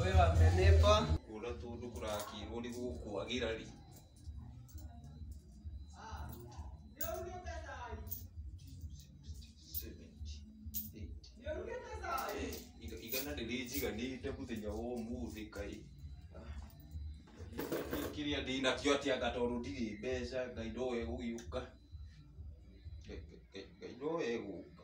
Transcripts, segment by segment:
Ũyũ wa menepa. Kũra tũndũ kũrakirwo nĩ gũkwagĩra rĩ. Iga- igana rĩrĩ njiganĩte mũthenya wa ũmũthĩ kaĩ kĩrĩa ndĩ nakĩo atĩ anga tondũ ndirĩ mbeca ngai ndoe gũgĩũka Ngai- Ngai- ngai ndoe gũka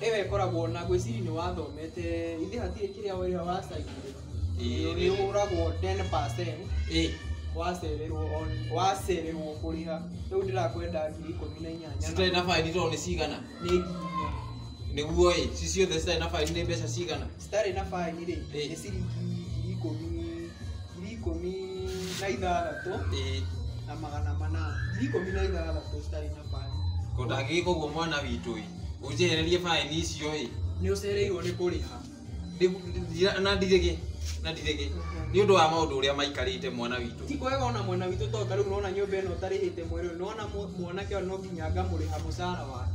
Ĩyo ĩkoragwo na ngwĩciria nĩ wathomete, ithe hatirĩ kĩrĩa wĩra wa cainjire. Ĩĩ nĩ ũragwo 10% wacererwo on wacererwo kũrĩha. Rĩu ndĩrakwenda ngiri ikũmi na inyanya. Citarĩ na baĩni tondũ nĩ cigana? Nĩ ngiri inya. Nĩguo-ĩ, ci ciothe citarĩ na baĩni nĩ mbeca cigana? citarĩ na baĩni rĩ Ĩĩ. nĩ ciringi ngiri ikũmi ngiri ikũmi na ithathatũ Ĩĩ. na magana manana ngiri ikũmi na ithathatũ citarĩ na baĩni Ko ndangĩgĩka ũguo mwana witũ ĩ ũnjehererie baĩni icio ĩ nĩ ũcereirwo nĩ kũrĩha Ndi- ndi- na ndirĩgĩ na ndirĩgĩ nĩ ũndũ wa maũndũ ũrĩa maikarĩte mwana witũ ti kwega ona mwena witũ tondũ ta rĩu nona nyũmba ĩno ũtarĩhĩte mweri ũyũ nona mwanake ũyũ no nginya ngamũrĩha mũcara wake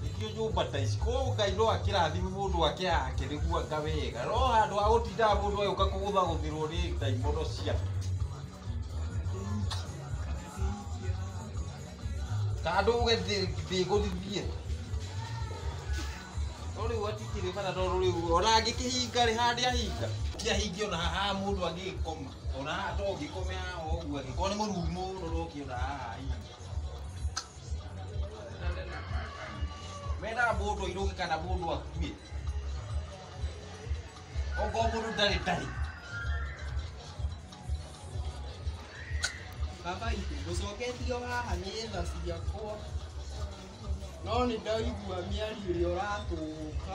Ningĩ nyũmba ta ici ko Ngai no akĩrathime mũndũ ake yake nĩguo anga wega no handũ ha gũtindaga mũndũ agĩũka kũgũthagũthĩrwo nĩ ndaimono cia andũ. Kando uge ndĩgũthithie. No rĩu hatikĩrĩ bata tondũ rĩu ona angĩkĩhinga rĩ handĩ ahinga ti ahinge ona haha mũndũ agĩkoma. Ona haha to ngĩkome haha ũguo angĩkorwo nĩ mũruru mũno ndũkĩona haha ii. Mena mũndũ airũke kana mũndũ akue. Ogo mũndũ ndarĩ ndarĩ. Baba itũ ngũcoketio haha nĩ tha ciakwa no nĩ ndaigua mĩario ĩrĩa ũratũka